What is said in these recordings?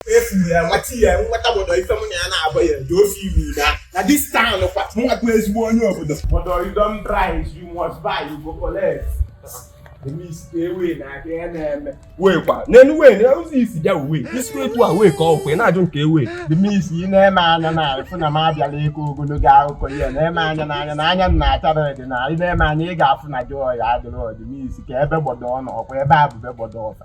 efuru ya nwata ya nwata obodo ife mụ na ya na-agba ya dị ofe iwu na na this town kwa nwa bụ ezigbo onye obodo obodo you don price you must buy you go collect wekwa n'elu wee na ụzọ isi bịa uwe isi etu a wee ka ọkwe na-ajụ nke ewe dị m isi ị na-eme anya na fụ na m abịala ịkọ ogologo akụkọ ihe na-eme anya n'anya na anya na achara dị na ị na-eme anya ị ga-afụ na joy adịrọ ọdịmisi ka ebe gbọdọ ọ nọ ọkwa ebe abụbe gbọdọ ọfa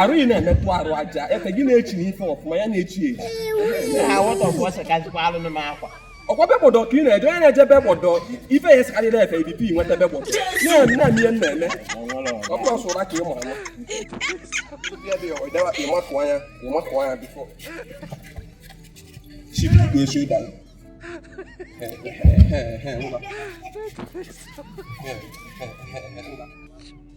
arụ ị na-emetụ arụ aja ete gị na-echi na ife ọfụma ya na-echi echi ọkwa be gbọdọ ka ị na-eje onye na-eje be gbọdọ ife ya esikarị na-efe ibp nweta be gbọdọ na-eme na ihe na-eme ọ bụrụ ọsọ ụra ka ị mara ịmakụ anya ịmakụ anya before chip na-eche ụda ụda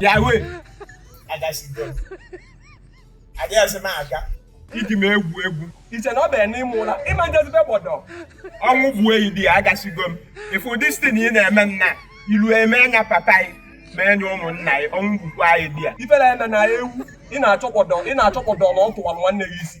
bịa wee agasigo adịghịzi m aga iji m egwu egwu iche na ọ bịara n'ime ụra ịma njezi be gbọdọ ọnwụ bụ enyi dị ya agasigo m ifu distin ị na-eme nna ilu eme anya papa anyị ma enye ụmụnna anyị ọnwụ bụkwa anyị dị ya ifere eme na ewu ị na-achọ gbọdọ ị na-achọ gbọdọ na ọ tụwara nwanne gị isi